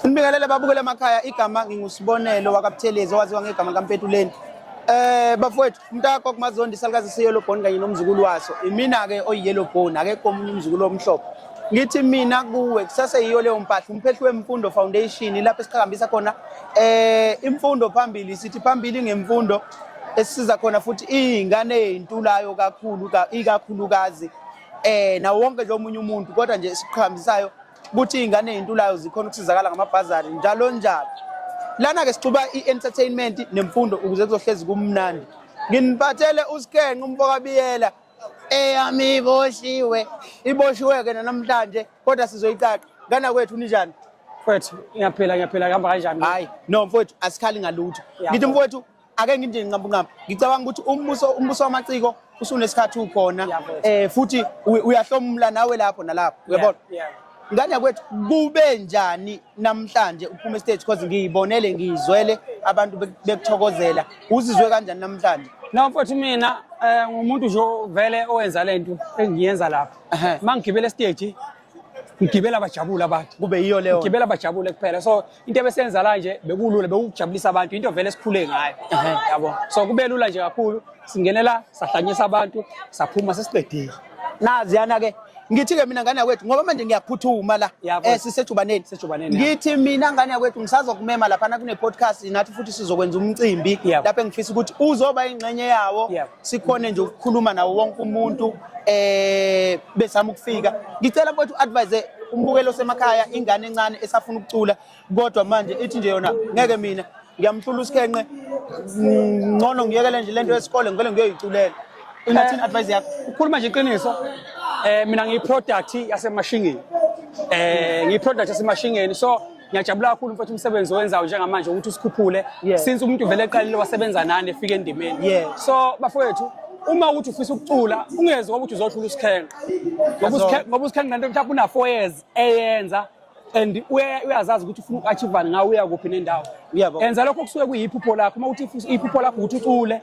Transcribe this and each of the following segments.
Ngibingelele babukele emakhaya igama ngingusibonelo wakabuthelezi owaziwa ngegama likampetuleni Eh bafowethu umntakho kumazondi salukazi siyelo bone kanye nomzukulu waso imina ke oyiyelo bone akekho omunye umzukulu omhlophe ngithi mina kuwe kusase yiyo leyo mpahla umphehli wemfundo foundation lapho esiqhakambisa khona eh imfundo phambili sithi phambili ngemfundo esisiza khona futhi ingane eyintulayo kakhulu ikakhulukazi eh nawo wonke nje omunye umuntu kodwa nje esiqhambisayo ukuthi iy'ngane ey'ntulayo zikhona ukusizakala ngamabhazari njalo njalo lana-ke sixuba i-entertainment nemfundo ukuze kuzohlezi kumnandi nginiphathele usikenqe umfokabiyela eyami iboshiwe iboshiwe-ke nanamhlanje kodwa sizoyicaqa ngana kwethu ninjani mfowethu ngiyaphila ngiyaphila kuhamba kanjani hayi no mfowethu asikhali ngalutho ngithi mfowethu ake ngithi nqampunqampu ngicabanga ukuthi umbuso umbuso wamaciko usunesikhathi ukhona eh futhi uyahlomula nawe lapho nalapho uyabona ngane kwethu kube njani namhlanje uphuma stage because ngiyibonele ngiyizwele abantu bekuthokozela uzizwe kanjani namhlanje na mfowethu mina eh, ngumuntu nje vele owenza lento engiyenza lapha mangigibele stage ngigibela bajabule abantu kube yiyo leyo ngigibela bajabule kuphela so into ebesenza la nje bekulula bekukujabulisa abantu into vele esikhule ngayo yabo so kube lula nje kakhulu singenela sahlanyisa abantu saphuma sesiqedile nazi yana ke ngithi ke mina ngane yakwethu ngoba manje ngiyaphuthuma la eh sisejubaneni sejubaneni ngithi mina ngane yakwethu ngisazokumema lapha na kune podcast nathi futhi sizokwenza umcimbi lapha engifisa ukuthi uzoba ingxenye yawo sikhone nje ukukhuluma nawo wonke umuntu eh besama ukufika ngicela mfowethu advise umbukelo semakhaya ingane encane esafuna ukucula kodwa manje ithi nje yona ngeke mina ngiyamhlula usikhenqe ngcono ngiyekele nje lento yesikole ngivele ngiyoyiculela inathini eh, advice yakho ukhuluma nje iqiniso eh mina ngiyi product yasemashingeni eh ngiyi product yasemashingeni so ngiyajabula kakhulu mfethu umsebenzi owenzayo njengamanje ukuthi usikhuphule yeah. since umuntu vele eqalile wasebenza nani efika endimeni yeah. so bafowethu uma ukuthi ufisa ukucula ungezi ngoba ukuthi uzohlula usikhenga ngoba usikhenga nanto mhlawumbe una-four years eyenza and uyazazi ukuthi ufuna uku-achivani ngawo uya kuphi nendawo enza lokho kusuke kuyiphupho lakho uma uthi iphupho lakho ukuthi ucule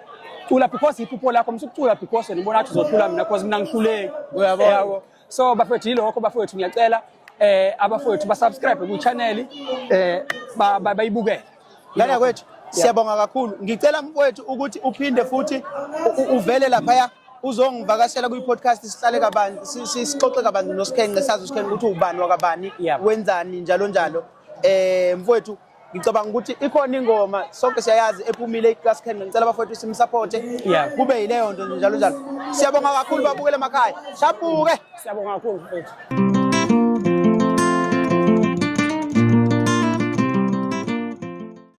cula because iphupho lakho msukucula because wena ubona ukuthi uzohlula mina because mina ngihluleki uyabo so bafethu yilokho bafethu ngiyacela eh abafowethu ba subscribe ku channel eh bayibukele lana kwethu siyabonga kakhulu ngicela mfowethu ukuthi uphinde futhi uvele lapha uzongivakashela kwi podcast sihlale kabani sixoxe kabani nosikhenqe sazi usikhenqe ukuthi ubani wakabani wenzani njalo njalo eh mfowethu ngicabanga ukuthi ikhona ingoma sonke siyayazi ephumile i-class can ngicela abafowethu simsapothe kube yileyo nto nje njalo njalo siyabonga kakhulu babukele emakhaya shabuke siyabonga kakhulu mfethu